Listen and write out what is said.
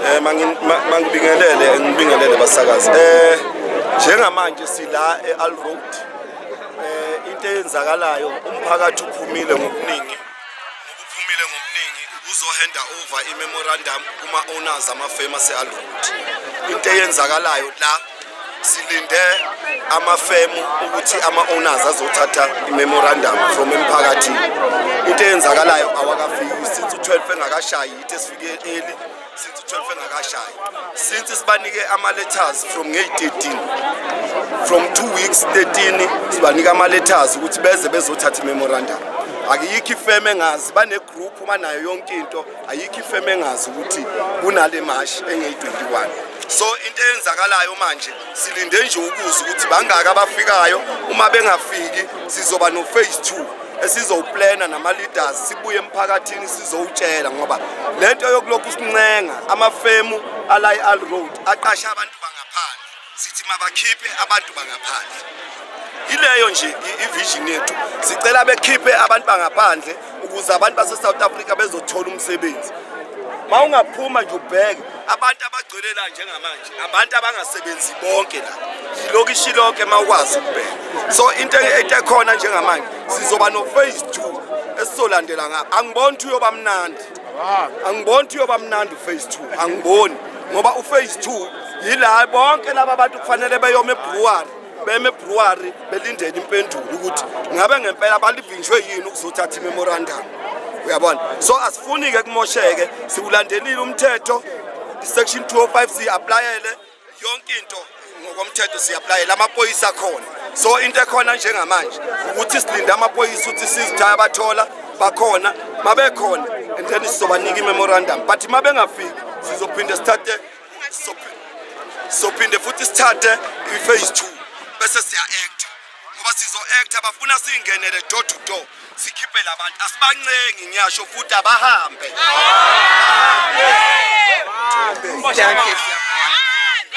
Eh mangibingelele ngibingelele basakazi. Eh njengamanje sila eAl Road. Eh into eyenzakalayo umphakathi uphumile ngokuningi. Uphumile ngokuningi uzohanda over imemorandum kuma owners ama famous eAl Road. Into eyenzakalayo la silinde amafemu ukuthi ama-owners azothatha i-memorandum from emphakathini into eyenzakalayo awakafiki since u-12 engakashayi sifike early since 12 engakashayi since sibanike ama letters from ngey 13 from 2 weeks 13 sibanike ama letters ukuthi beze bezothatha memorandum akuyikho ifeme engazi bane group banayo yonke into ayikho ifeme engazi ukuthi kunale mash engey 21 so into eyenzakalayo manje silinde nje ukuza ukuthi bangaka abafikayo uma bengafiki sizoba no phase 2 esizowuplana nama-leaders sibuye emphakathini sizowutshela ngoba le nto yokulokhu sincenga amafemu ala i-al road aqashe abantu bangaphandle sithi mabakhiphe abantu bangaphandle yileyo nje ivision yethu sicela bekhiphe abantu bangaphandle ukuze abantu base-south africa bezothola umsebenzi ma ungaphuma nje ubheke abantu abagcwele la njengamanje abantu abangasebenzi bonke la ilokishi lonke uma ukwazi ukubheka so into etekhona njengamanje sizoba no-phase two esizolandela ngapha angiboni ukuthi uyoba mnandi angiboni ukuthi uyoba mnandi u-phase two angiboni ngoba u-phase two yila bonke laba bantu kufanele beyoma ebruwari beme brewery belindele impendulo ukuthi ngabe ngempela balivinjwe yini ukuzothatha imemorandum uyabona so asifuni-ke kumosheke siwulandelile umthetho i-section 205 siyi-aplayele yonke into ngokomthetho siyi-aplayele amaphoyisa akhona so into ekhona njengamanje ukuthi silinde amaphoyisa ukuthi sizithaya bathola bakhona mabekhona and then sizobanika i-memorandum but mabengafiki sizophinde sithathe sophinde futhi sithathe i-phase two bese siya-acta ngoba sizo-acta bafuna siyingenele door to door sikhiphe labantu asibancengi ngiyasho futhi abahambe